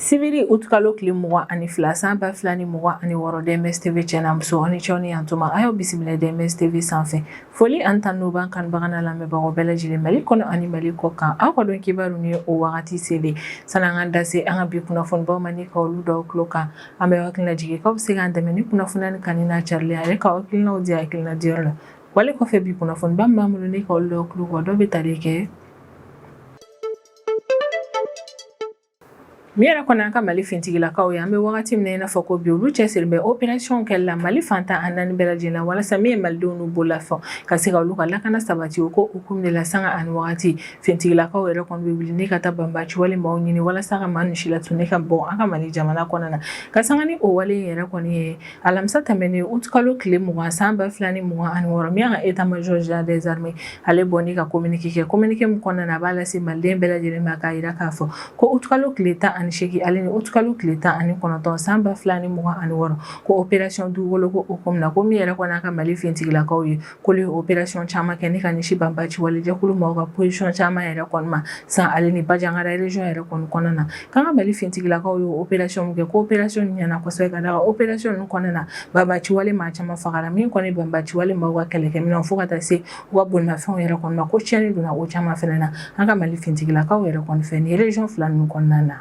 sibiri utukalo tile mugan ani fila san ba fila ni mugan ani wɔɔrɔ dms tv cɛ n'a muso aw ni ce aw ni yan tuma a y'aw bisimila dms tv sanfɛ foli ani tanuni b'an kanubaga n'an lamɛnbagaw bɛɛ lajɛlen mali kɔnɔ ani mali kɔ kan aw ka don kibaru ni o wagati selen san'an ka da se an ka bi kunnafonibaw ma ni ka olu d'aw tulo kan an bɛ hakili najigin k'aw bɛ se k'an dɛmɛ ni kunnafoni nin kanuni n'a carili ye ale ka hakilinaw di hakilina diyɔrɔ la Wale kɔfɛ bi kunnafoniba min b'an bolo ni ka olu d'aw tulo kan dɔ bɛ tali kɛ Min yɛrɛ kɔni an ka Mali fintigilakaw ye, an bɛ wagati min na i n'a fɔ ko bi, olu cɛsirilen bɛ opération kɛli la Mali fan tan ani naani bɛɛ lajɛlen na, walasa min ye malidenw n'u bololafɛnw ka se ka olu ka lakana sabati, o ko hukumu de la sanga ani wagati, fintigilakaw yɛrɛ kɔni bɛ wuli ni ka taa banbaaci wale maaw ɲini walasa ka maa ninnu silatunu ka bɔ an ka Mali jamana kɔnɔna na, ka sanga ni o wale in yɛrɛ kɔni ye alamisa tɛmɛnen utukalo tile mugan san ba fila ni mugan ani wɔɔrɔ min an ka état major général des armées ale bɔ ni ka kominike kɛ kominike min kɔnɔna na a b'a lase maliden bɛɛ lajɛlen ma k'a jira k'a fɔ ko utukalo tile tan ani seegin ale ni utukalo tile tan ani kɔnɔntɔn san ba fila ni mugan ani wɔɔrɔ ko opération dugukoloko hukumu na ko min yɛrɛ kɔni an ka mali fintigilakaw ye k'olu ye opération caman kɛ ni ka ɲɛsin banbaciwale jɛkulu maaw ka position caman yɛrɛ kɔni ma san ale ni banjagara région yɛrɛ kɔni kɔnɔna na k'an ka mali finitigilaw ye opération min kɛ ko opération ɲɛna kosɛbɛ k'a da a kan opération ninnu kɔnɔna na banbaciwale maa caman fagara min kɔni banbaciwale maaw ka kɛlɛkɛminɛn fo ka taa se u ka bolimafɛnw yɛrɛ kɔni ma ko tiɲɛni donna o caman fana na an ka mali fintigilakaw yɛrɛ kɔni fɛ ni région fila ninnu kɔnɔna na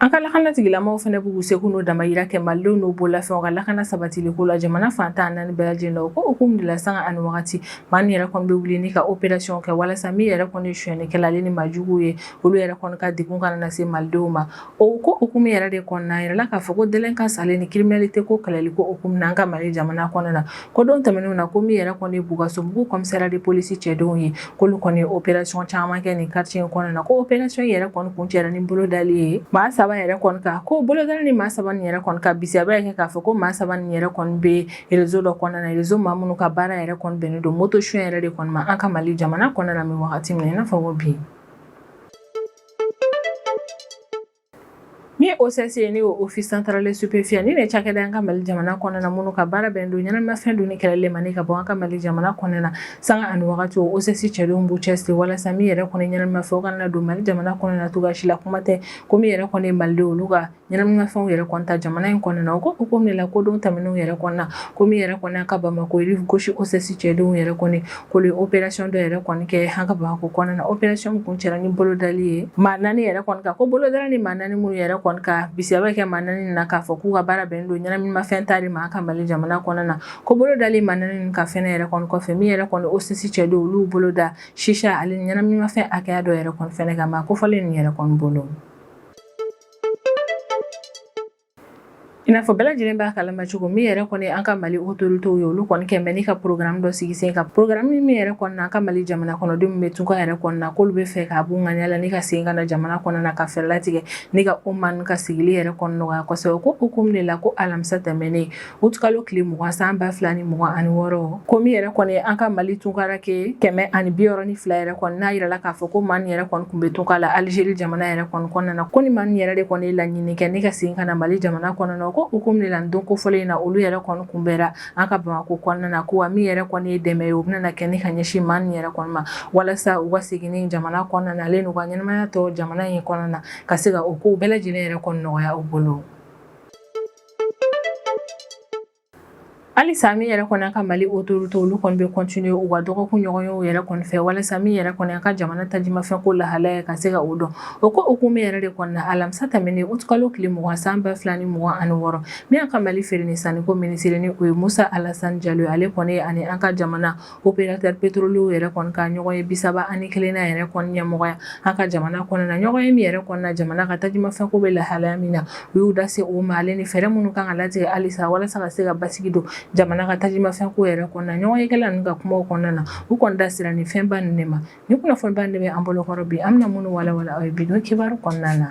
An ka lakana tigilamɔgɔw fana b'u seko n'u damayira kɛ Malidenw n'u bololafɛnw ka lakana sabatiliko la jamana fan tan ani naani bɛɛ lajɛlen na o ko hukumu de la sanga ani wagati maa min yɛrɛ kɔni bɛ wuli ni ka opération kɛ walasa min yɛrɛ kɔni ye sonyɛnikɛla ale ni maajuguw ye olu yɛrɛ kɔni ka degun kana na se Malidenw ma o ko hukumu yɛrɛ de kɔnɔna a yirala k'a fɔ ko délinquance ale ni criminalité ko kɛlɛliko hukumu na an ka Mali jamana kɔnɔ na ko don tɛmɛnenw na ko min yɛrɛ kɔni bulkasumbugu commissariat de police cɛdenw ye k'olu kɔni ye opération caman kɛ nin quartier in kɔnɔna na ko opération yɛrɛ kɔni kuncɛra ni bolodali ye maa saba yɛrɛ kɔni kan ko bolodali ni maa saba yɛrɛ kɔni ka bisa in k'a fɔ ko maa saba ni yɛrɛ kɔni bɛ réseau dɔ kɔnɔna na réseau maa minnu ka baara yɛrɛ kɔni bɛnnen don moto sonyɛ yɛrɛ de kɔni ma an ka mali jamana kɔnɔna na min wagati min na i n'a fɔ ko bi Min ye OCS ye n'o ye office central des stupéfiants nin de ye cakɛda ye an ka Mali jamana kɔnɔna na minnu ka baara bɛnnen don ɲɛnaminifɛn dunni kɛlɛli ma ni ka bɔ an ka Mali jamana kɔnɔna na sanga ani wagati o OCS cɛdenw b'u cɛsiri walasa min yɛrɛ kɔni ye ɲɛnaminifɛn o kana na don Mali jamana kɔnɔna na cogoya si la kuma tɛ ko min yɛrɛ kɔni ye Malidenw olu ka ɲɛnaminifɛnw yɛrɛ kɔni ta jamana in kɔnɔna na o ko hukumu de la ko don tɛmɛnenw yɛrɛ kɔnɔna ko min yɛrɛ kɔni y'an ka Bamakɔ rive gauche OCS cɛdenw yɛrɛ kɔni ko olu opération dɔ yɛrɛ kɔni kɛ an ka bamakɔ kɔnɔna na opération kuncɛra ni bolodali ye maa naani yɛrɛ kɔni kan ko bolo dalen ni maa naani minnu yɛrɛ kɔni kan bisigi bɛ kɛ maa naani na k'a fɔ k'u ka baara bɛn don ɲɛnaminimafɛn ta de ma an ka mali jamana kɔnɔna na ko bolo dalen maa naani kan fɛnɛ yɛrɛ kɔni kɔfɛ min yɛrɛ kɔni OCS cɛdenw olu bolo da shisha ale ɲɛnaminimafɛn hakɛya dɔ yɛrɛ kɔni kan maa kofɔlen nin yɛrɛ kɔni bolo I n'a fɔ bɛɛ lajɛlen b'a kalama cogo min yɛrɛ kɔni an ka Mali autorités ye olu kɔni kɛlen bɛ ni ka programme dɔ sigi sen kan programme min yɛrɛ kɔni na an ka Mali jamana kɔnɔden min bɛ tunka yɛrɛ kɔni na k'olu bɛ fɛ k'a b'u ŋaniya la ni ka segin ka na jamana kɔnɔ na ka fɛɛrɛ latigɛ ni ka o maa nin ka sigili yɛrɛ kɔni nɔgɔya kosɛbɛ o ko hukumu de la ko alamisa tɛmɛnen utkalo tile mugan san ba fila ni mugan ani wɔɔrɔ ko min yɛrɛ kɔni an ka mali tunkaranke kɛmɛ ani biwɔɔrɔ ni fila yɛrɛ kɔni n'a yirala k'a fɔ ko maa nin yɛrɛ kɔni tun bɛ tunka la alizeri jamana yɛrɛ kɔni kɔnɔna na ko ni maa nin yɛrɛ de kɔni laɲini kɛ ni ka segin ka na mali jamana kɔnɔna ko hukumu de la don kofɔlen in na olu yɛrɛ kɔni kunbɛra an ka bamakɔ kɔnɔna na ko wa min yɛrɛ kɔni ye dɛmɛ ye o bɛna kɛ ni ka ɲɛsin maa nin yɛrɛ kɔni ma walasa u ka segin jamana kɔnɔna na ale n'u ka ɲɛnamaya tɔ jamana in kɔnɔna na ka se ka o ko bɛɛ lajɛlen yɛrɛ kɔni nɔgɔya u bolo halisa min yɛrɛ kɔni an ka mali otorite olu kɔni bɛ kɔntine u ka dɔgɔkun ɲɔgɔnyew yɛrɛ kɔni fɛ walasa min yɛrɛ kɔni an ka jamana tajimafɛn ko lahalaya ka se ka o dɔn o ko hukumu yɛrɛ de kɔnɔna alamisa tɛmɛnen utkalo tile mugan san ba fila ni mugan ani wɔɔrɔ min an ka mali feere ni sanni ko minisiri ni o ye musa alasan jalo ye ale kɔni ye ani an ka jamana opérateur pétrolierw yɛrɛ kɔni ka ɲɔgɔnye bisaba ani kelennan yɛrɛ kɔni ɲɛmɔgɔya an ka jamana kɔnɔna na ɲɔgɔnye min yɛrɛ kɔni na jamana ka tajimafɛnko bɛ lahalaya min na u y'u da se o ma ale ni fɛɛrɛ minnu kan ka latigɛ halisa walasa ka se ka basigi don jamana ka tajimafɛnko yɛrɛ kɔnɔna na ɲɔgɔnyekɛla ninnu ka kuma kɔnɔna na u kɔni da sera ni fɛnba ninnu de ma ni kunnafoniba de bɛ an bolokɔrɔ bi an bɛna minnu walawala aw ye bi don kibaru kɔnɔna na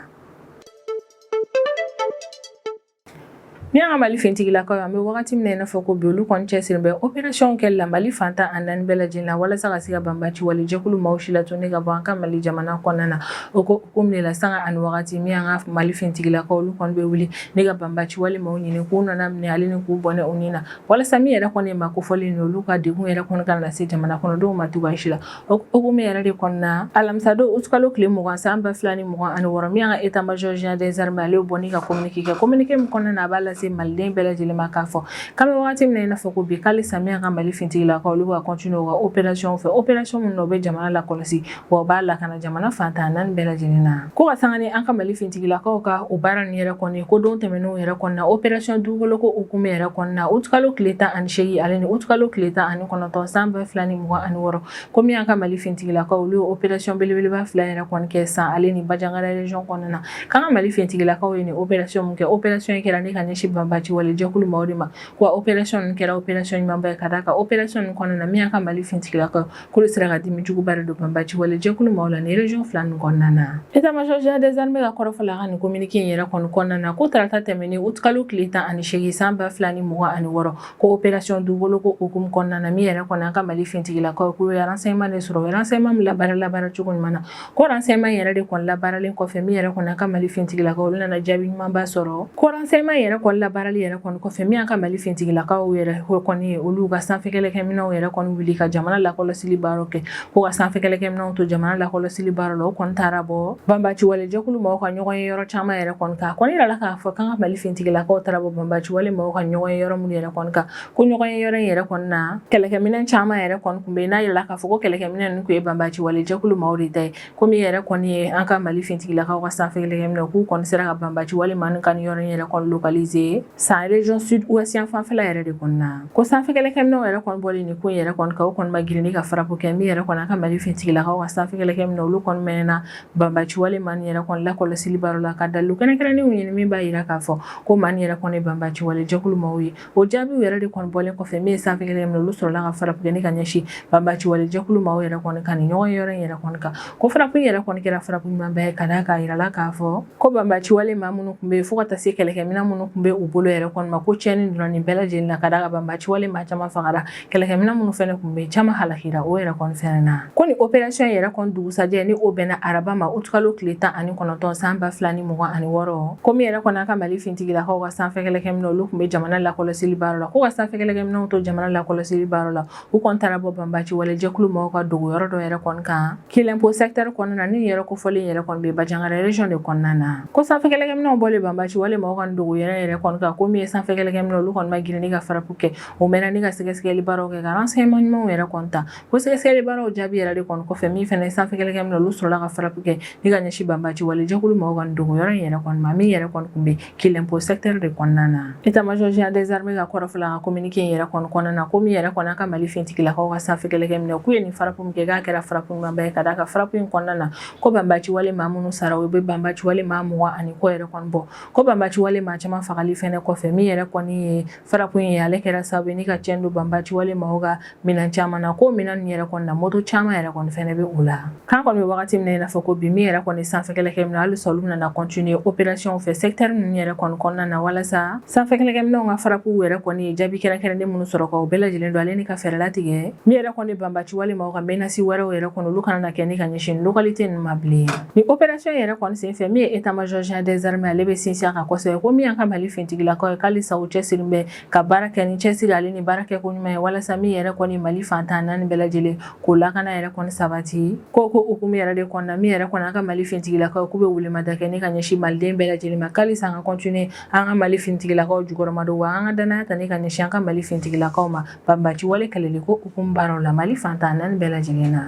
Min y'an ka Mali finitigilakaw ye, an bɛ wagati min na i n'a fɔ ko bi, olu kɔni cɛsirilen bɛ opération kɛli la Mali fan tan ani naani bɛɛ lajɛlen na, walasa ka se ka banbaaci wale jɛkulu maaw si latunu ka bɔ an ka Mali jamana kɔnɔna na. O ko hukumu de la, sanga ani wagati, min y'an ka Mali finitigilakaw ye, olu kɔni bɛ wuli ni ka banbaaci wale maaw ɲini, k'u nɔnna minɛ ale ni k'u bɔnɛ u ni na, walasa min yɛrɛ kɔni ye maa kofɔlen ye, olu ka degun yɛrɛ kɔni kana lase jamana kɔnɔdenw ma cogoya si la. O hukumu yɛrɛ de kɔnɔna na alamisa don aout kalo tile mugan san ba fila ni mugan ani wɔɔrɔ min y'an ka état major général des armées ale ye bɔnni ka communiqué kɛ communiqué min kɔnɔna na a b'a lase maliden bɛɛ lajɛlen ma k'a fɔ k'an bɛ wagati min na i n'a fɔ ko bi ko halisa min y'an ka mali fintigilakaw olu ka continuer u ka opération fɛ opération min na u bɛ jamana lakɔlɔsi wa u b'a lakana jamana fan tan ni naani bɛɛ lajɛlen na ko ka sanga ni an ka mali fintigilakaw ka o baara nin yɛrɛ kɔni ko don tɛmɛnenw yɛrɛ kɔnɔna opération dugukoloko hukumu yɛrɛ kɔnɔna aout kalo tile tan ani seegin ale ni aout kalo tile tan ani kɔnɔntɔn san ba fila ni mugan ani wɔɔrɔ ko min y'an ka mali fintigilakaw olu ye opération belebeleba fila yɛrɛ kɔni kɛ san ale ni bajangara region kɔnɔna na k'an ka mali fintigilakaw ye nin opération min kɛ opération kɛra ni ka ɲɛsin banbaci wale jɛkulu maaw de ma wa opération nin kɛra opération ɲumanba ye ka d'a kan opération nin kɔnɔna na min an ka mali fintigilakaw k'olu sera ka dimi juguba don banbaci wale jɛkulu maaw la nin region fila nin kɔnɔna na état major général des armées ka kɔrɔfɔla ka nin communiqué in yɛrɛ kɔnɔna na ko tarata tɛmɛnen utikalo tile tan ani seegin san ba fila ni mugan ani wɔɔrɔ ko operation dugukoloko hukumu kɔnɔna na min yɛrɛ kɔni an ka mali fintigilakaw k'u ye renseignement de sɔrɔ o ye renseignement min labaara labaara cogo ɲuman na ko renseignement yɛrɛ de kɔni labaaralen kɔfɛ min yɛrɛ kɔni an ka mali fintigilakaw olu nana jaabi ɲumanba sɔrɔ ko renseignement yɛrɛ kɔni labaarali yɛrɛ kɔni kɔfɛ min an ka mali fintigilakaw yɛrɛ kɔni ye olu ka sanfɛkɛlɛkɛminɛw yɛrɛ kɔni wuli ka jamana lakɔlɔsili baaraw kɛ ko ka sanfɛ kɛlɛkɛminɛw to jamana lakɔlɔsili baaraw la u kɔni taara bɔ banbaci wale jɛkulu maaw ka ɲɔgɔn ye yɔrɔ caman yɛrɛ kɔni kan kɔni yirala k'a fɔ k'an ka mali fintigilakaw taara bɔ banbaci wale maaw ka ɲɔgɔn ye yɔrɔ minnu yɛrɛ kɔni kan ko ɲɔgɔn ye yɔrɔ in yɛrɛ kɔni na kɛlɛkɛminɛn caman yɛrɛ kɔni kun bɛ yen n'a yirala k'a fɔ ko kɛlɛkɛminɛn ninnu kun ye banbaci wale jɛkulu maaw de ta ye ko min yɛrɛ kɔni ye an ka mali fintigilakaw ka sanfɛ kɛlɛkɛminɛw k'u kɔni sera ka banbaci wale maaw ka nin yɔrɔ in yɛrɛ kɔni localiser san region sud ouest yan fanfɛla yɛrɛ de kɔnɔna ko sanfɛkɛlɛkɛminɛw yɛrɛ kɔni bɔlen nin ko in yɛrɛ kɔni kan u kɔni ma girin ni ka farapo kɛ min yɛrɛ kɔni an ka mali fintigilakaw ka sanfɛkɛlɛkɛminɛ olu kɔni mɛnna banbaci wale maa nin yɛrɛ kɔni lakɔlɔsili baaraw la ka dalu kɛrɛnkɛrɛnnenw ɲini min b'a yira k'a fɔ ko maa nin yɛrɛ kɔni ye banbaci wale jɛkulu maaw ye o jaabiw yɛrɛ de kɔni bɔlen kɔfɛ min ye sanfɛkɛlɛkɛminɛ olu sɔrɔla ka farapo kɛ ni ka ɲɛsin banbaci wale jɛkulu maaw yɛrɛ kɔni ka nin ɲɔgɔn ye yɔrɔ in yɛrɛ kɔni kan ko farapo in yɛrɛ kɔni kɛra farapo ɲumanba ye ka d'a kan a yirala k'a fɔ ko banbaciwale maa minnu kun bɛ yen fo ka taa se kɛlɛkɛminɛn minnu kun bɛ u bolo yɛrɛ kɔni ma ko cɛnni donna nin bɛɛ lajɛlen na ka d'a kan banbaciwale maa caman fagara kɛlɛkɛminɛn minnu fɛnɛ kun bɛ yen caman halakira o yɛrɛ kɔni fɛnɛ na ko nin opération yɛrɛ kɔni dugusajɛ ni o bɛnna araba ma utikalo tile tan ani kɔnɔntɔn san ba fila ni mugan ani wɔɔrɔ ko min yɛrɛ kɔni an ka mali fintigilakaw ka sanfɛ kɛlɛkɛminɛ olu kun bɛ jamana lakɔlɔsili baaraw la ko ka sanfɛ kɛlɛkɛminɛw to jamana lakɔlɔsili baaraw la U kɔni taara bɔ banbaci wale jɛkulu maaw ka dogo yɔrɔ dɔ yɛrɛ kɔni kan kilempo secteur kɔnɔna na nin yɔrɔ kofɔlen yɛrɛ kɔni bɛ bajangara region de kɔnɔna na ko sanfɛ kɛlɛkɛminɛw bɔlen banbaci wale maaw ka dogo yɔrɔ yɛrɛ kɔni kan ko min ye sanfɛ kɛlɛkɛminɛw olu kɔni ma girin ni ka farapo kɛ u mɛnna ni ka sɛgɛsɛgɛli baaraw kɛ ka renseignement ɲumanw yɛrɛ kɔni ta ko sɛgɛsɛgɛli baaraw jaabi yɛrɛ de kɔni kɔfɛ min fɛnɛ sanfɛ kɛlɛkɛminɛw olu sɔrɔla ka farapo kɛ ni ka ɲɛsin banbaci wale jɛkulu maaw ka dogo yɔrɔ in yɛrɛ kɔni ma min yɛrɛ kɔni kun bɛ kilempo secteur de kɔnɔna na état major général des armées ka kɔrɔfɔla ka communiqué in yɛrɛ kɔnɔna na ko min yɛrɛ kɔni an ka mali fintigilakaw ka sanfɛ kɛlɛkɛminɛw k'u ye nin farapo min kɛ k'a kɛra farapo ɲumanba ye ka d'a kan farapo in kɔnɔna na ko banbaciwale maa minnu sara u bɛ banbaciwale maa mugan ani kɔ yɛrɛ kɔni bɔ ko banbaciwale maa caman fagali fɛnɛ kɔfɛ min yɛrɛ kɔni ye Frappe in ye ale kɛra sababu ye ni ka cɛn don banbaci wale maaw ka minɛn caman na ko minɛn ninnu yɛrɛ kɔni na moto caman yɛrɛ kɔni fana bɛ o la k'an kɔni bɛ wagati min na i n'a fɔ ko bi min yɛrɛ kɔni sanfɛkɛlɛkɛ minɛnw hali sa olu nana continuer opération fɛ secteur ninnu yɛrɛ kɔni kɔnɔna na walasa sanfɛkɛlɛkɛ minɛnw ka frappew yɛrɛ kɔni ye jaabi kɛrɛnkɛrɛnnen minnu sɔrɔ ka o bɛɛ lajɛlen don ale ni ka fɛɛrɛ latigɛ min yɛrɛ kɔni banbaci wale maaw ka menace wɛrɛw yɛrɛ kɔni olu kana na kɛ ni ka ɲɛsin localité ninnu ma bilen Ni opération yɛrɛ kɔni senfɛ min ye état-major général des armées ale bɛ sinsin a kan kosɛbɛ ko min y'an ka mali finitigilakaw ye k'alisa u cɛsirilen bɛ ka baara kɛ ni cɛsiri ale ni baara kɛ ko ɲuman ye walasa min yɛrɛ kɔni mali fantan naani bɛɛ lajɛlen k'o lakana yɛrɛ kɔni sabati ko hukumu yɛrɛ de kɔnɔna min yɛrɛ kɔni an ka mali finitigilakaw k'u bɛ wuli ma da kɛ ni ka ɲɛsin maliden bɛɛ lajɛlen ma k'alisa an ka continuer an ka mali finitigilakaw jukɔrɔma don wa an ka dannaya ta ni ka ɲɛsin an ka mali finitigilakaw ma banbaci wale kɛlɛli ko hukumu baaraw la mali fantan naani bɛɛ lajɛlen na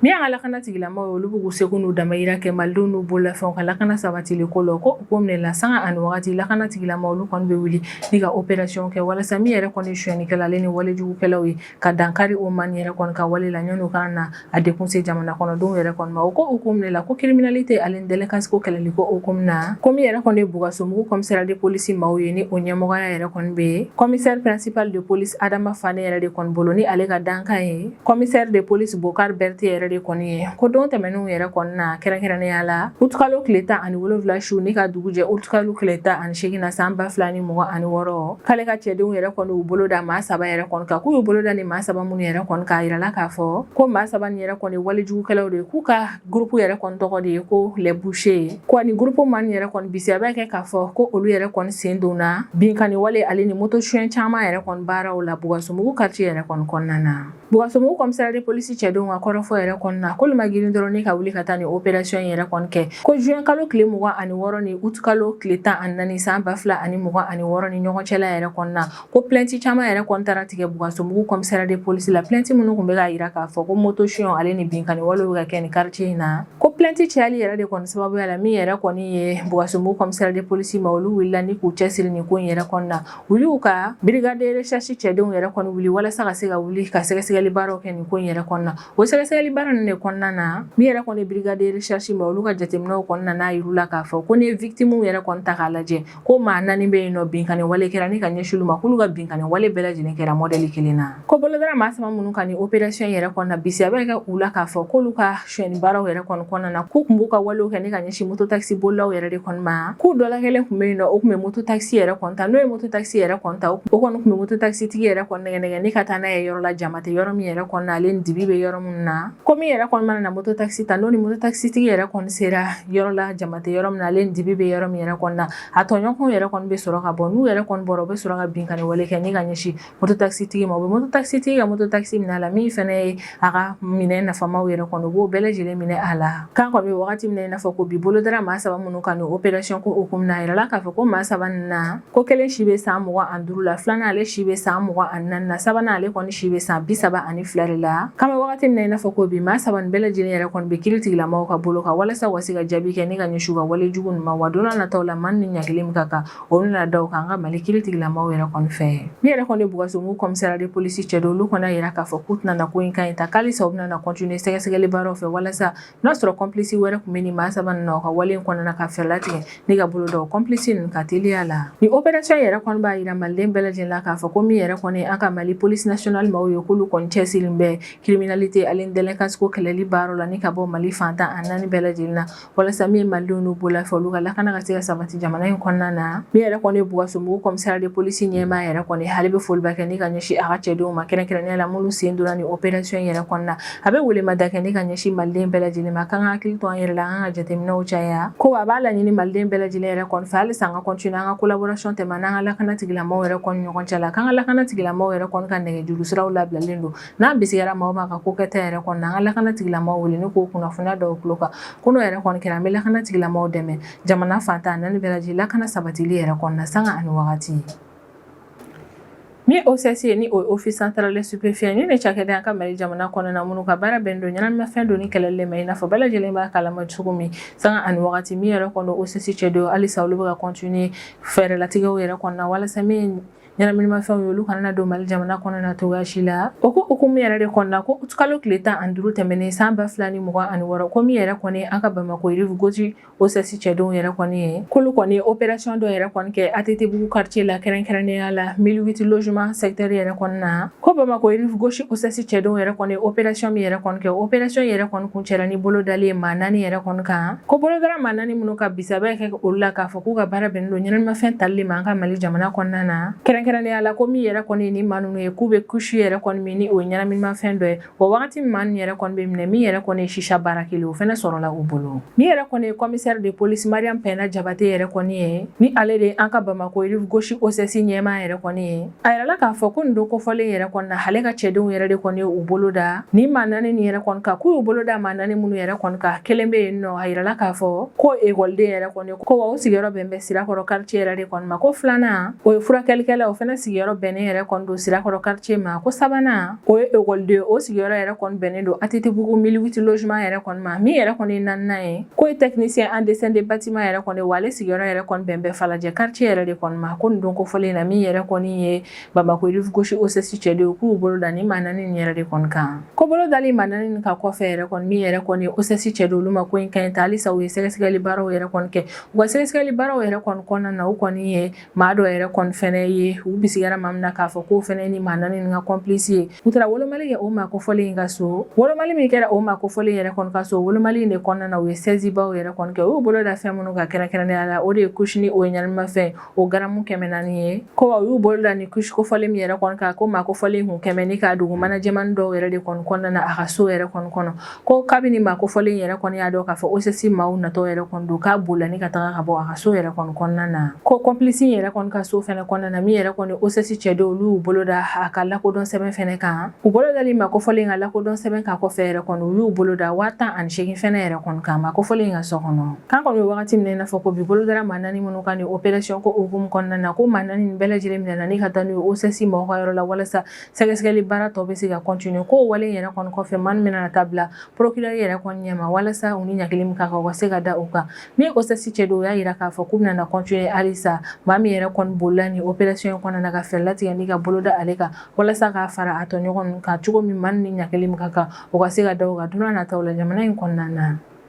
Min y'an ka lakana tigilamaaw ye olu b'u seko n'u damayira kɛ malidenw n'u bololafɛnw ka lakana sabatili ko la ko hukumu de la sanga ani waati lakana tigilamaaw olu kɔni bɛ wuli ni ka opération kɛ walasa min yɛrɛ kɔni sonyɛnikɛla ale ni walejugukɛlaw ye ka dankari o maa yɛrɛ kɔni ka wale la yanni u ka na a dɛgun se jamana kɔnɔdenw yɛrɛ kɔni ma o ko hukumu de la ko criminalité ale ni délinquance ko kɛlɛli ko hukumu na ko min yɛrɛ kɔni ye Bulkasumbugu kɔmisariya de polisi maaw ye ni o ɲɛmɔgɔya yɛrɛ kɔni bɛ kɔmisɛri pɛrɛnsipali de polisi adama fane yɛrɛ de kɔni bolo ni ale ka dankan ye kɔmisɛri de polisi bokari bɛrite yɛrɛ de kɔni ye ko don tɛmɛnenw yɛrɛ kɔni na kɛrɛnkɛrɛnnenya la utukalo tile tan ani wolonwula su ni ka dugu jɛ utukalo tile tan ani segin na san ba fila ni mugan ani wɔɔrɔ k'ale ka cɛdenw yɛrɛ kɔni y'u bolo da maa saba yɛrɛ kɔni kan k'u y'u bolo da ni maa saba minnu yɛrɛ kɔni kan a yirala k'a fɔ ko maa saba ni yɛrɛ kɔni ye walejugukɛlaw de ye k'u ka Groupe yɛrɛ kɔni tɔgɔ de ye ko les bouchers ko ani groupe maa nin yɛrɛ kɔni bisiya bɛ kɛ k'a fɔ ko olu yɛrɛ kɔni sen donna binkanni wale ale ni moto suɲɛ caman yɛrɛ kɔni baaraw la Bulkasumbugu quartier yɛrɛ kɔni kɔnɔna na. Bulkasumbugu commissariat de police cɛdenw ka kɔrɔfɔ yɛrɛ kɔni na k'olu ma girin dɔrɔn ni ka wuli ka taa nin opération in yɛrɛ kɔni kɛ ko juin kalo tile mugan ani wɔɔrɔ ni août kalo tile tan ani naani san ba fila ani mugan ani wɔɔrɔ ni ɲɔgɔn cɛla yɛrɛ kɔni na ko plɛnti caman yɛrɛ kɔni taara tigɛ bulkasumbugu kɔmisariya de polisi la plɛnti minnu tun bɛ k'a jira k'a fɔ ko moto suɲɛ ale ni binkanni wale bɛ ka kɛ ni karitiye in na ko plɛnti cayali yɛrɛ de kɔni sababuya la min yɛrɛ kɔni ye bulkasumbugu kɔmisariya de polisi maaw olu wulila ni k'u cɛsiri nin ko in yɛrɛ kɔnɔna na u y'u ka birigade resɛrisi cɛdenw yɛrɛ kɔni wuli walasa ka se ka wuli ka sɛgɛsɛgɛli baaraw kɛ nin ko in yɛrɛ kɔnɔna na o sɛgɛsɛgɛli baara ninnu de kɔnɔna na min yɛrɛ kɔni birigade resɛrisi maaw olu ka jateminɛw kɔni nan'a yir'u la k'a fɔ ko n'i ye vikitimuw yɛrɛ kɔni ta k'a lajɛ ko maa naani bɛ yen nɔ binkanni wale kɛra ni ka ɲɛsin olu ma k'olu ka binkanni wale bɛɛ lajɛlen kɛra mɔdɛli kelen na ko bolo dara maa saba minnu kan nin operasiyɔn yɛrɛ kɔni na bisiya bɛ kɛ u la k'a fɔ k'olu ka sonyɛni baaraw yɛrɛ kɔni kɔnɔna na k'u tun b'u ka walew kɛ ni ka ɲɛsin mototakisi bolilaw yɛrɛ de kɔni ma k'u dɔ la kelen tun bɛ yen nɔ o tun bɛ mototakisi yɛrɛ kɔni ta n'o ye mototakisi yɛrɛ kɔni ta o kɔni tun bɛ mototakisitigi yɛrɛ kɔni nɛgɛnɛgɛ ni ka taa n'a ye yɔrɔ la jama tɛ yɔrɔ min yɛrɛ kɔni na ale ni dibi bɛ yɔrɔ minnu na ko min yɛrɛ kɔni mana na mototakisi ta n'o ni mototakisitigi yɛrɛ kɔni sera yɔrɔ la jama a tɛ yɔrɔ min na ale ni dibi bɛ yɔrɔ min yɛrɛ kɔni na a tɔɲɔgɔnw yɛrɛ kɔni bɛ sɔrɔ ka bɔ n'u yɛrɛ kɔni bɔra u bɛ sɔrɔ ka binkanni wale kɛ ni ka ɲɛsin moto takisitigi ma u bɛ moto takisitigi ka moto takisi minɛ a la min fɛnɛ ye a ka minɛn nafamaw yɛrɛ kɔni u b'o bɛɛ lajɛlen minɛ a la kan kɔni bɛ wagati min na i n'a fɔ ko bi bolodara maa saba minnu kan nin operation ko hukumu na a yirala k'a fɔ ko maa saba nin na Ko kelen si bɛ san mugan ni duuru la filanan ale si bɛ san mugan ni naani na sabanan ale kɔni si bɛ san bi saba ani fila de la k'an bɛ wagati min na i n'a fɔ ko bi maa saba nin bɛɛ lajɛlen yɛrɛ kɔni bɛ kiritigilamaaw ka bolo kan walasa u ka se ka jaabi kɛ ni ka ɲɛsin u ka wale jugu ninnu ma wa don nataw la maa ni ɲangili min ka kan o na da u kan an ka mali kiritigilamaaw yɛrɛ kɔni fɛ min yɛrɛ kɔni bulkasumbugu commissariat de police cɛdenw olu kɔni y'a jira k'a fɔ k'u tɛna na ko in kan in ta k'a lasa u bɛna na continuer sɛgɛsɛgɛli baaraw fɛ walasa N'a sɔrɔ complice wɛrɛ tun bɛ nin maa saba na u ka wale in kɔnɔna ka fɛɛrɛ latigɛ ni ka bolo da o complice ninnu kan teliya la nin operation yɛrɛ kɔni b'a jira maliden bɛɛ lajɛlen la k'a fɔ ko min yɛrɛ kɔni an ka mali police nationale maaw ye k'olu kɔni cɛsirilen bɛ criminalité ale ni délinquance kɛlɛli baara la ni ka bɔ mali fan tan ani naani bɛɛ lajɛlen na walasa min malidenw n'u bololafɛnw olu ka lakana ka se ka sabati jamana in kɔnɔna na min yɛrɛ kɔni bulkasumbugu commissariat de police ɲɛmaa yɛrɛ kɔni ale bɛ foliba kɛ ni ka ɲɛsin a ka cɛdenw ma kɛrɛnkɛrɛnnenya la minnu sen donna nin operation yɛrɛ kɔnɔna na a bɛ welemada kɛ ni ka ɲɛsin maliden bɛɛ lajɛlen ma k'an ka hakili to an yɛrɛ la an ka jateminɛw caya ko a b'a laɲini maliden bɛɛ lajɛlen yɛrɛ kɔni fɛ halisa an ka kɔntini an ka kolaborasɔn tɛmɛn n'an ka lakana tigilamɔgɔw yɛrɛ kɔni ɲɔgɔn cɛ la k'an ka lakana tigilamɔgɔw yɛrɛ kɔni ka nɛgɛjuru siraw labilalen don n'an bisigira mɔgɔ ma ka ko kɛta yɛrɛ kɔni an ka lakana tigilamɔgɔw wele ni k'o kunnafoni in da u tulo kan ko n'o yɛrɛ kɔni kɛra an bɛ lakana tigilamɔgɔw dɛmɛ jamana fan tan ni naani bɛɛ lajɛlen lakana sabatili yɛrɛ kɔni na sanga ani wagati Min OCS ni o office central des stupéfiants ni nin cakɛda an ka mali jamana kɔnɔna na minnu ka baara bɛnnen don ɲɛnaminimafɛn donni kɛlɛli ma i n'a fɔ bɛɛ lajɛlen b'a kalama cogo min sanga ani wagati min yɛrɛ kɔni OCS cɛdenw halisa olu bɛ continuer fɛɛrɛ latigɛw yɛrɛ kɔni na walasa min ɲɛnaminimafɛnw ye olu kana don mali jamana kɔnɔna na cogoya si la o ko hukumu yɛrɛ de kɔnɔna na ko kalo tile tan ani duuru tɛmɛnen san ba fila ni mugan ani wɔɔrɔ ko min yɛrɛ kɔni an ka bamakɔ rive gauche OCS cɛdenw yɛrɛ kɔni ye k'olu kɔni ye operation dɔ yɛrɛ kɔni kɛ ATTbugu kartiye la kɛrɛnkɛrɛnnenya la mille huit logements secteur yɛrɛ kɔni na ko bamakɔ rive gauche OCS cɛdenw yɛrɛ kɔni ye operation min yɛrɛ kɔni kɛ operation yɛrɛ kɔni kuncɛla ni bolodali ye maa naani yɛrɛ kɔni kan ko bolo dara maa naani minnu kan bisigi bɛ kɛ olu la k'a fɔ k'u ka baara bɛnnen don ɲɛnaminimafɛn tali ma an ka mali jamana kɔnɔna na kɛrɛnkɛrɛnnenya la ko min yɛrɛ kɔni ye nin maa ninnu ye k'u bɛ kusi yɛrɛ kɔni min ni o ye ɲɛnaminimafɛn dɔ ye O wagati min maa nin yɛrɛ kɔni bɛ minɛ min yɛrɛ kɔni ye sisa bara kelen o fɛnɛ sɔrɔla u bolo min yɛrɛ kɔni ye commissaire de police mariyamu pɛnda jabate yɛrɛ kɔni ye ni ale de ye an ka bamakɔ rive gauche OCS ɲɛmaa yɛrɛ kɔni ye a yirala k'a fɔ ko nin don kofɔlen yɛrɛ kɔni na ale ka cɛdenw yɛrɛ de kɔni y'u bolo da nin maa naani nin yɛrɛ kɔni kan k'u y'u bolo da maa naani minnu yɛrɛ kɔni kan kelen bɛ yen nɔ a yirala k'a fɔ ko o ekɔliden yɛrɛ kɔni ye ko wa o sigiyɔrɔ bɛnnen bɛ sirakɔrɔ kartiye yɛrɛ de kɔni ma ko filanan o ye furakɛlikɛla o fɛnɛ sigiyɔrɔ bɛnnen yɛrɛ kɔni don sirakɔrɔ kartiye ma ko sabanan O ye ekɔliden o sigiyɔrɔ yɛrɛ kɔni bɛnnen don ATTBugu mille huit logements yɛrɛ kɔni ma min yɛrɛ kɔni ye naaninan ye k'o ye technicien en dessin de bâtiment yɛrɛ kɔni wa ale sigiyɔrɔ yɛrɛ kɔni bɛn bɛ falajɛ quartier yɛrɛ de kɔni ma ko nin don kofɔlen in na min yɛrɛ kɔni ye Bamako rive-gauche OCS cɛdenw ye k'u bolo da nin maa naani in yɛrɛ de kɔni kan ko bolo dali maa naani in kan kɔfɛ yɛrɛ kɔni min yɛrɛ kɔni ye OCS cɛdenw olu ma ko in ka ɲi ta halisa u ye sɛgɛsɛgɛli baaraw yɛrɛ kɔni kɛ u ka sɛgɛsɛgɛli baaraw yɛrɛ kɔni kɔnɔna na u kɔni ye maa dɔ yɛrɛ kɔni fɛnɛ ye u bisigara maa min na k'a fɔ k'o fɛnɛ ni maa naani nin ka complice ye u taara wolomali kɛ o maa kofɔlen in ka so wolomali min kɛra o maa kofɔlen yɛrɛ kɔni ka so wolomali in de kɔnɔna na u ye sɛzibaw yɛrɛ kɔni kɛ u y'u bolo da fɛn minnu kan kɛrɛnkɛrɛnnenya la o de ye kush nin o ɲanimafɛn o garamu kɛmɛ naani ye ko u y'u bolo da ni kush kofɔlen min yɛrɛ kɔni kan ko maa kofɔlen kun k'a minɛ ni k'a dogo aménagement dɔw yɛrɛ de kɔni kɔnɔna na a ka so yɛrɛ kɔni kɔnɔ ko kabini maa kofɔlen yɛrɛ kɔni y'a dɔn k'a fɔ OCS maaw natɔ yɛrɛ kɔni don k'a bolila ni ka taga ka bɔ a ka so yɛrɛ kɔni kɔnɔna na ko complice yɛrɛ kɔni ka so fɛnɛ kɔnɔna na min yɛrɛ kɔni OCS cɛdenw olu bolo da a ka lakodɔn sɛbɛn fɛnɛ kan u bolo dali maa kofɔlen ka lakodɔn sɛbɛn kan kɔfɛ yɛrɛ kɔni u y'u bolo da waa tan ani segin fɛnɛ yɛrɛ kɔni kan maa kofɔlen ka so kɔnɔ k'an kɔni bɛ wagati min i n'a fɔ ko bi bolo dara maa naani minnu kan ni opération ko hukumu kɔnɔna na ko maa naani bɛɛ lajɛlen minɛna ni ka taa n'u ye OCS maaw ka yɔrɔ la walasa sɛgɛsɛgɛli baara tɔ bɛ se ka continuer k'o wale in yɛrɛ kɔni kɔfɛ maa min bɛna taa bila procureur yɛrɛ kɔni ɲɛma walasa u ni ɲangili min ka kan u ka se ka da u kan min ye OCS cɛdenw u y'a yira k'a fɔ k'u bɛna na continuer halisa maa min yɛrɛ kɔni bolila nin opération in kɔnɔna na ka fɛɛrɛ latigɛ ni ka bolo da ale kan walasa k'a fara a tɔɲɔgɔn ninnu kan cogo min maa min ni ɲangili min ka kan o ka se ka da o kan don n'a nataw la jamana in kɔnɔna na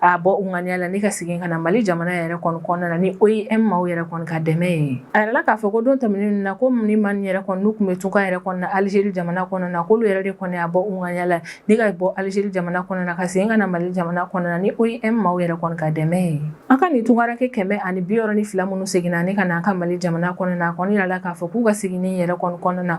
a bɔ u ŋaniya la ni ka segin ka na mali jamana yɛrɛ kɔni kɔnɔna na ni OIM maaw yɛrɛ kɔni ka dɛmɛ ye a yirala k'a fɔ ko don tɛmɛnen na ko nin maa yɛrɛ kɔni n'u kun bɛ tunga yɛrɛ kɔni na alizeri jamana kɔnɔna na k'olu yɛrɛ de kɔni a bɔ u ŋaniya la ni ka bɔ alizeri jamana kɔnɔna na ka segin ka na mali jamana kɔnɔna na ni OIM maaw yɛrɛ kɔni ka dɛmɛ ye an ka nin tunkaranke kɛmɛ ani bi wɔɔrɔ ni fila minnu seginna ni ka na an ka mali jamana kɔnɔna na a kɔni yirala k'a fɔ k'u ka seginni yɛrɛ kɔni kɔnɔna na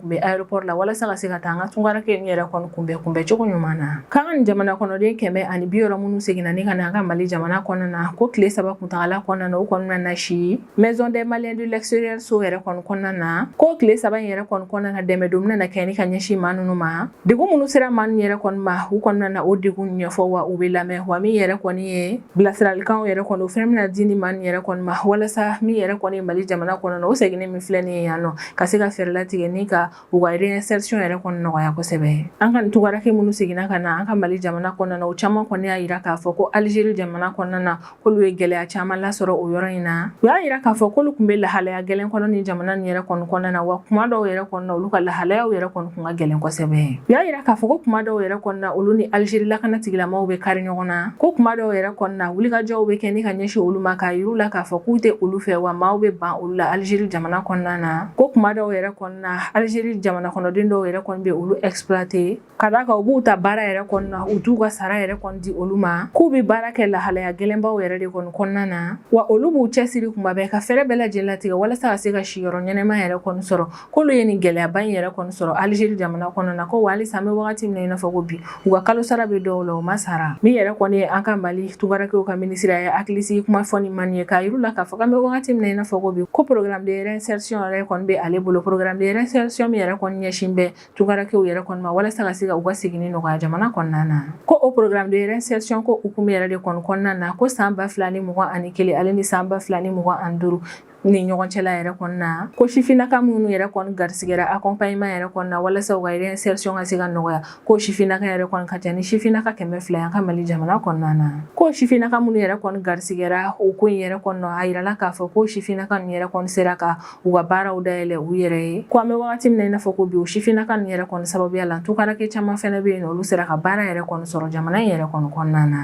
kun bɛ aéroport la walasa ka se ka taa an ka tunkaranke in yɛrɛ kɔni kunbɛn kunbɛn cogo ɲuman na k'an ka nin jamana kɔnɔden kɛmɛ ani bi wɔɔrɔ minnu seginna ni ka na an ka Mali jamana kɔnɔna na ko tile saba kuntagala kɔnɔna na u kɔni bɛna na si maison des maliens de l'extérieur so yɛrɛ kɔni kɔnɔna na ko tile saba in yɛrɛ kɔni kɔnɔna na dɛmɛ dɔw bɛna na kɛ ni ka ɲɛsin maa ninnu ma degun minnu sera maa ninnu yɛrɛ kɔni ma u kɔni bɛna na o degun ɲɛfɔ wa u bɛ lamɛn wa min yɛrɛ kɔni ye bilasiralikanw yɛrɛ kɔni o fɛnɛ bɛna di nin maa nin yɛrɛ kɔni ma walasa min yɛrɛ kɔni mali jamana kɔnɔna na o seginni min filɛ nin ye yan nɔ ka se ka fɛɛrɛ latigɛ ni ka u ka réinsertion yɛrɛ kɔni nɔgɔya kosɛbɛ an ka nin tunkaranke minnu seginna ka na an ka mali jamana kɔnɔna na o caman kɔni y'a yira k'a fɔ ko alizeri jamana kɔnɔna na k'olu ye gɛlɛya caman lasɔrɔ o yɔrɔ in na u y'a yira k'a fɔ k'olu kun bɛ lahalaya gɛlɛn kɔnɔ nin jamana nin yɛrɛ kɔni kɔnɔna na wa kuma dɔw yɛrɛ kɔni olu ka lahalayaw yɛrɛ kɔni Kun ka gɛlɛn kosɛbɛ u y'a yira k'a fɔ ko kuma dɔw yɛrɛ kɔnɔna olu ni alizeri lakana tigilamaw bɛ kari ɲɔgɔn na ko kuma dɔw yɛrɛ kɔnɔna wulikajɔw bɛ kɛ ni ka ɲɛsin olu ma k'a yir'u la k'a fɔ k'u tɛ olu fɛ wa maaw bɛ ban olu la alizeri jamana kɔnɔna na ko kuma dɔw yɛrɛ kɔnɔna alizeri jamana kɔnɔden dɔw yɛrɛ kɔni bɛ olu exploiter ka d'a kan u b'u ta baara yɛrɛ kɔnɔna u t'u ka sara yɛrɛ kɔni di olu ma k'u bɛ baara kɛ lahalaya gɛlɛnbaw yɛrɛ de kɔni kɔnɔna na wa olu b'u cɛsiri kuma bɛɛ ka fɛɛrɛ bɛɛ lajɛlen latigɛ walasa ka se ka siyɔrɔ ɲɛnama yɛrɛ kɔni sɔrɔ K'olu ye nin gɛlɛyaba in yɛrɛ kɔni sɔrɔ alizeri jamana kɔnɔ na ko wa halisa an bɛ wagati min na i n'a fɔ ko bi u ka kalo sara bɛ dɔw la u ma sara min yɛrɛ kɔni ye an ka mali tungarankɛw ka minisiri ye hakilisigi kuma fɔ ni maa nin ye k'a yir'u la k'a fɔ k'an bɛ wagati min na i n'a fɔ ko bi ko programme de réinsertion yɛrɛ kɔni bɛ ale bolo programme de réinsertion min yɛrɛ kɔni ɲɛsin bɛ tungarankɛw yɛrɛ kɔni ma walasa ka se ka u ka segin nɔgɔya jamana kɔnɔna na ko o programme de réinsertion ko hukumu yɛrɛ de kɔnɔna na ko san ba fila ni mugan ani kelen ale ni san ba fila ni mugan ani duuru ni ɲɔgɔn cɛla yɛrɛ kɔnɔna na ko sifinnaka minnu yɛrɛ kɔni garisigɛra accompagnement yɛrɛ kɔnɔna na walasa u ka réinsertion ka se ka nɔgɔya ko sifinnaka yɛrɛ kɔni ka ca ni sifinnaka kɛmɛ fila y'an ka Mali jamana kɔnɔna na ko sifinnaka minnu yɛrɛ kɔni garisigɛra o ko in yɛrɛ kɔnɔ a yirala k'a fɔ ko sifinnaka ninnu yɛrɛ kɔni sera ka u ka baaraw dayɛlɛ u yɛrɛ ye ko an bɛ wagati min na i n'a fɔ ko bi o sifinnaka ninnu yɛrɛ kɔni sababuya la tungarankɛ caman fɛnɛ bɛ yen nɔ olu sera ka baara yɛrɛ kɔni sɔrɔ jamana in yɛrɛ kɔni kɔnɔna na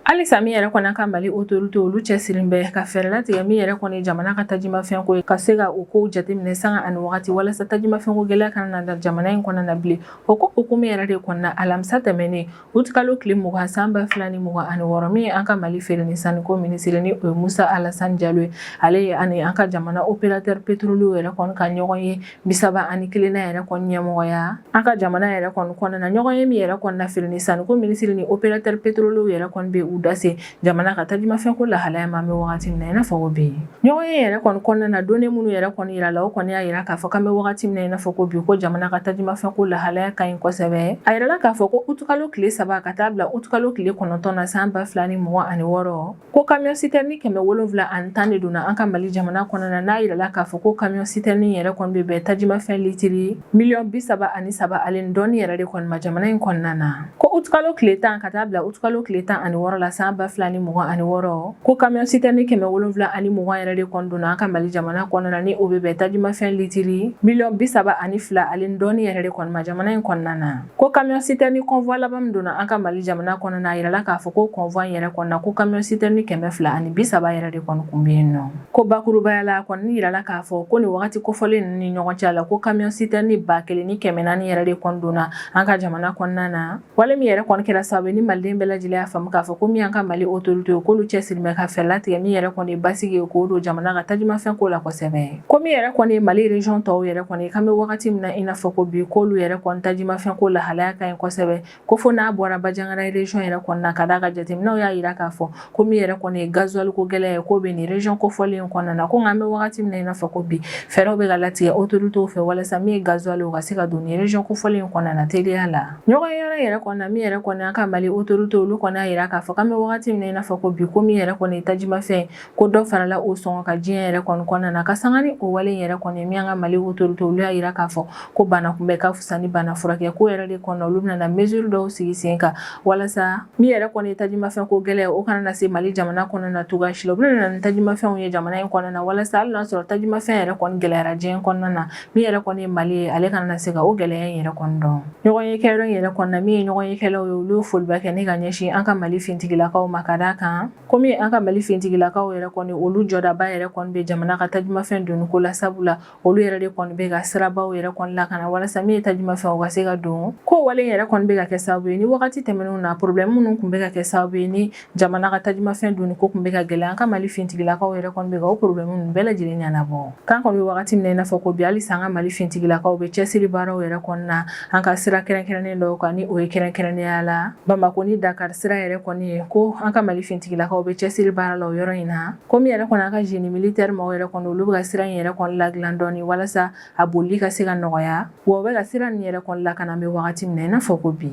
Halisa min yɛrɛ kɔni an ka mali autorité olu cɛsirilen bɛ ka fɛɛrɛ latigɛ min yɛrɛ kɔni jamana ka tajimafɛn ko ye ka se ka o ko jateminɛ sanga ani waati walasa tajimafɛnko gɛlɛya kana na jamana in kɔnɔ na bilen o ko hukumu yɛrɛ de kɔnɔna alamisa tɛmɛnen utukalo tile mugan san ba fila ni mugan ani wɔɔrɔ min ye an ka mali feere ni sanniko minisiri ni o ye musa alasani jalo ye ale ye ani an ka jamana opérateur pétrolier yɛrɛ kɔni ka ɲɔgɔn ye bi saba ani kelennan yɛrɛ kɔni ɲɛmɔgɔya an ka jamana yɛrɛ kɔni kɔnɔna ɲɔgɔn ye min yɛrɛ kɔni na feere ni sanni ko minisiri ni opérateur pétrolier yɛrɛ kɔni bɛ u dase jamana ka tajumafɛn ko lahalaya ma an bɛ wagati min na i n'a fɔ ko bi ɲɔgɔn ye yɛrɛ kɔni kɔnɔna na donnée minnu yɛrɛ kɔni yirala o kɔni y'a yira k'a fɔ k'an bɛ wagati min na i n'a fɔ ko bi ko jamana ka tajumafɛn ko lahalaya ka ɲi kosɛbɛ a yirala k'a fɔ ko utukalo tile saba ka taa bila utukalo tile kɔnɔntɔn na san ba fila ni mugan ani wɔɔrɔ Ko camion citerne kɛmɛ wolonwula ani tan de donna an ka mali jamana kɔnɔna na n'a yirala k'a fɔ ko camion citerne yɛrɛ kɔni bɛ bɛn tajimafɛn litiri miliyɔn bi saba ani saba ale donni yɛrɛ de kɔni ma jamana in kɔnɔna na ko utukalo tile tan ka taa bila utukalo tile tan ani wɔɔrɔ la san ba fila ni mugan ani wɔɔrɔ ko camion citerne kɛmɛ wolonwula ani mugan yɛrɛ de kɔni donna an ka mali jamana kɔnɔna ni o bɛ bɛn tajimafɛn litiri miliyɔn bi saba ani fila ale donni yɛrɛ de kɔni ma jamana in kɔnɔna na Ko camion citerne convoi laban min donna an ka mali jamana kɔnɔna a yirala k'a fɔ ko convoi yɛrɛ kɔnɔ na ko camion citerne kɛmɛ fila ani bi saba yɛrɛ de kɔni tun bɛ yen nɔ ko bakurubaya la a kɔni yirala k'a fɔ ko nin waati kofɔlen ninnu ni ɲɔgɔn cɛ la ko camion citerne ba kelen ni kɛmɛ naani yɛrɛ de kɔni donna an ka jamana kɔnɔna na wale min yɛrɛ kɔni kɛra sababu ni maliden bɛɛ lajɛlen y'a faamu k'a fɔ ko min an ka mali autoritéw k'olu cɛsirilen bɛ ka fɛɛrɛ latigɛ min yɛrɛ kɔni basigi ye k'o don jamana ka tajimafɛn ko la kosɛbɛ ko min yɛrɛ kɔni ye mali region tɔw yɛrɛ kɔni k'an bɛ wagati min na i n'a fɔ ko bi k'olu yɛrɛ kɔni tajimafɛn ko lahalaya ka ɲi kosɛbɛ ko fo n'a bɔra bajangara region yɛrɛ kɔni na ka d'a kan jateminɛw y'a jira k'a fɔ ko min yɛrɛ kɔni ye gazuwali ko gɛlɛya ye k'o bɛ nin region kofɔlen in kɔnɔna na ko nka an bɛ wagati min na i n'a fɔ ko bi fɛɛrɛw bɛ ka latigɛ autorités fɛ walasa min ye gazuwali o ka se ka don nin region kofɔlen in kɔnɔna na teliya la ɲɔgɔn yɔrɔ yɛrɛ kɔni na min yɛrɛ kɔni an ka mali autorités olu kɔni y'a jira k'a fɔ k'an bɛ wagati min na i n'a fɔ ko bi ko min yɛrɛ kɔni ye tajimafɛn ko dɔ farala o sɔngɔ kan diɲɛ yɛrɛ kɔni kɔnɔna na ka sanga ni o wale yɛrɛ kɔni min an ka mali autorités olu y'a yira k'a fɔ ko bana kunbɛ ka fisa ni bana furakɛ k'o yɛrɛ de kɔnɔ olu bɛna mesure dɔw sigi sen kan walasa min yɛrɛ kɔni ye tajimafɛn ko gɛlɛya o kana na se mali jamana kɔnɔna na cogoya si la u bɛna na ni tajimafɛnw ye jamana in kɔnɔna na walasa hali n'a sɔrɔ tajimafɛn yɛrɛ kɔni gɛlɛyara diɲɛ kɔnɔna na min yɛrɛ kɔni ye mali ye ale kana na se ka o gɛlɛya in yɛrɛ kɔni dɔn ɲɔgɔnye kɛyɔrɔ in yɛrɛ kɔnɔna min ye ɲɔgɔnye kɛlaw ye olu ye foliba kɛ ni ka ɲɛsin an ka mali fintigilakaw ma ka d'a kan komi an ka mali fintigilakaw yɛrɛ kɔni olu jɔdaba yɛrɛ kɔni bɛ jamana ka tajumafɛn donni ko la sabula olu yɛrɛ de kɔni bɛ ka sirabaw yɛrɛ kɔni lakana walasa min ye tajumafɛn o ka se ka don k'o wale yɛrɛ kɔni bɛ ka kɛ sababu ye ni wagati tɛmɛnenw na problème minnu kun bɛ ka kɛ sababu ye ni jamana ka tajumafɛn donni ko kun bɛ ka gɛlɛya an ka mali fintigilakaw yɛrɛ kɔni bɛ ka o problème ninnu bɛɛ lajɛlen ɲɛnabɔ k'an kɔni bɛ wagati min na i n'a fɔ ko bi halisa an ka mali fintigilakaw bɛ cɛsiri baaraw yɛrɛ kɔni na an ka sira kɛrɛnkɛrɛnnen dɔw kan ni o ye kɛrɛnkɛrɛnnenya la bamakɔ ni dakari sira yɛrɛ kɔni ye ko an ka mali fintigilakaw bɛ cɛsiri baara la o yɔrɔ in na ko min yɛrɛ kɔni an ka génie militaire maaw yɛrɛ kɔni olu bɛ ka sira in yɛrɛ kɔni ladilan dɔɔni walasa a bolili ka se ka nɔgɔya wa u bɛ ka sira nin yɛrɛ kɔni lakana an bɛ wagati min na i n'a fɔ ko bi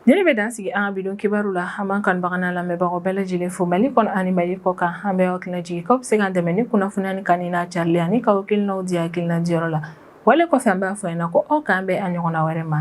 Nin le bɛ dan sigi an ka bi don kibaru la an b'an kanubaga n'an lamɛnbagaw bɛɛ lajɛlen fo mali kɔnɔ ani mali kɔ kan an bɛ aw hakili lajigin k'aw bɛ se k'an dɛmɛ ni kunnafoni nin kanuni n'a carili ani k'aw hakilinaw di hakilina diyɔrɔ la wale kɔfɛ an b'a fɔ yan na ko aw k'an bɛn a ɲɔgɔnna wɛrɛ ma